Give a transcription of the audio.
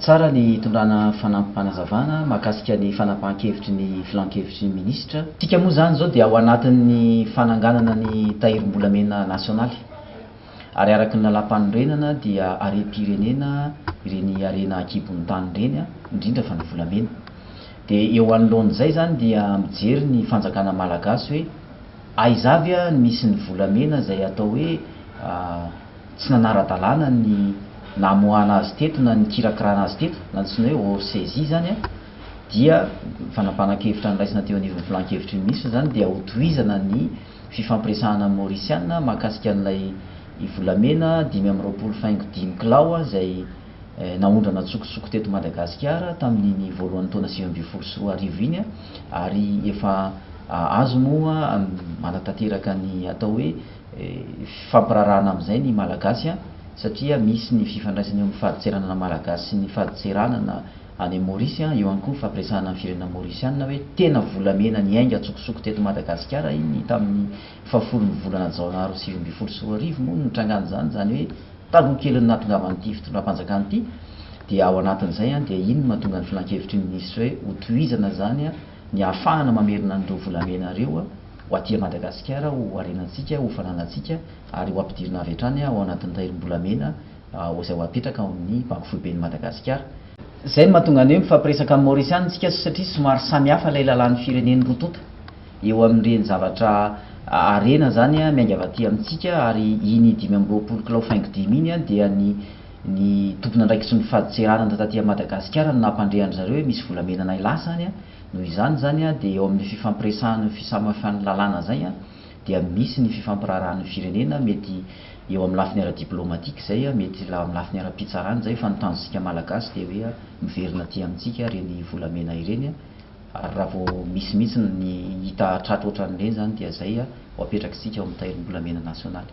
Tsara ny hitondrana fanampim-panazavana mahakasika ny fanapahan-kevitry ny Filan-kevitry ny Minisitra. Isika moa izany izao dia ao anatin'ny fananganana ny Tahirim-bolamena Nasionaly ary araka ny Lalàmpanorenana dia harem-pirenena ireny harena an-kibon'ny tany ireny, indrindra fa ny volamena. Dia eo anoloan'izay izany dia mijery ny Fanjakana Malagasy hoe. Aiza avy a nisy ny volamena izay atao hoe tsy nanara-dalàna ny namoahana azy teto na nikirakirana azy teto, na antsoina hoe hors saisie izany a, dia ny fanampanan-kevitra noraisina teo anivon'ny Filan-kevitry ny Minisitra izany dia ho tohizana ny fifampiresahana amin'ny Maorisiana mahakasika an'ilay volamena dimy amby roapolo faingo dimy kilao izay Naondrana an-tsokosoko teto Madagasikara tamin'iny voalohan'ny taona sivy ambin'ny folo sy roa arivo iny ary efa azo moa manatanteraka ny atao hoe fifampiraharahana amin'izay ny Malagasy satria misy ny fifandraisana eo amin'ny fadintseranana Malagasy sy ny fadintseranana any amin'i Maorisy. Eo ihany koa ny fampiresahana ny firenena Maorisiana hoe tena volamena niainga an-tsokosoko teto Madagasikara iny tamin'ny Fahafolon'ny volana Jona roa sivy ambin'ny folo sy roa arivo moa no nitrangan'izany, izany hoe taloha kelin'ny nahatongavan'ity fitondram-panjakana ity, dia ao anatin'izay dia iny no mahatonga ny filankevitry ny minisitra hoe hotohizana izany ny hahafahana mamerina an'ireo volamena ireo ho aty Madagasikara ho harenantsika, ho fananantsika ary ho ampidirina avy hatrany ao anatin'ny rairim-bolamena izay ho apetraka ao amin'ny Banky Foiben'i Madagasikara. Izay no mahatonga ny hoe mifampiresaka amin'ny Maorisiana isika satria somary samihafa ilay lalàn'ny firenen'ny roa tonta. Eo amin'ireny zavatra harena izany miainga avy aty amintsika ary iny dimy amby roapolo kilao faingo dimy iny dia ny ny tompon'andraikitry ny fadintseranana taty à Madagasikara no nampandre an-dry zareo hoe misy volamena nay lasa any noho izany izany dia eo amin'ny fifampiresahana io fisamafan'ny lalàna izay dia misy ny fifampiraharahan'ny firenena mety eo amin'ny lafiny ara-diplomatique izay mety eo amin'ny lafiny ara-pitsarana izay fa ny tanjontsika malagasy dia hoe miverina aty amintsika ireny volamena ireny Ary raha vao misy mihitsy ny hita tratra ohatran'ireny izany dia izay ho apetrak'isika ao amin'ny Tahirim-bolamena nasionaly.